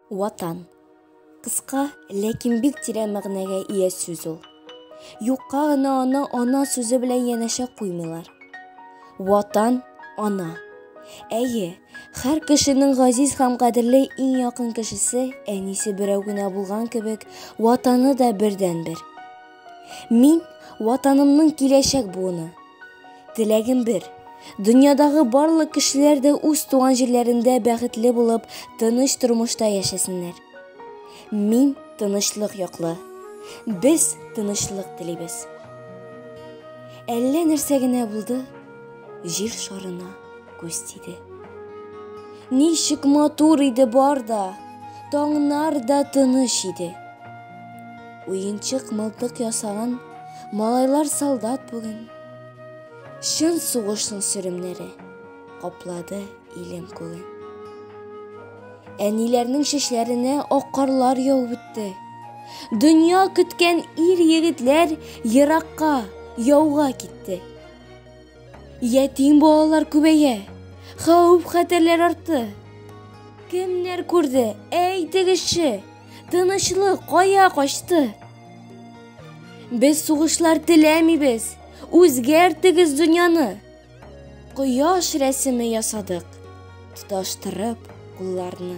Ватан. Кыска, ләкин бик тирән мәгънәгә ия сүз ул. Юкка гына аны ана сүзе белән янәшә куймыйлар. Ватан, ана. Әйе, һәр кешенең газиз һәм кадерле иң якын кешесе, әнисе берәү генә булган кебек, ватаны да бердәнбер. Мин ватанымның киләчәк буыны. Теләгем бер, дөньядагы барлык кешеләр дә үз туган җирләрендә бәхетле булып, тыныч тормышта яшәсеннәр. Мин тынычлык яклы. Без тынычлык телибез. Әллә нәрсә генә булды, җир шарына күз тиде. Ничек матур иде бар да, таңнар да тыныч иде. Уенчык мылтык ясаган малайлар солдат бүген. Чын сугышның сөремнәре каплады илем күген. Әниләрнең шешләренә ак карлар яуып үтте. Дөнья көткән ир егетләр еракка, яуга китте. Ятим балалар күбәя. Хәүф хәтерләр артты. Кемнәр күрде? Әйтегезче. Тынычлык кая качты? Без сугышлар теләмибез. Үзгәртегез дөньяны. Кояш рәсеме ясадык. Тоташтырып кулларны.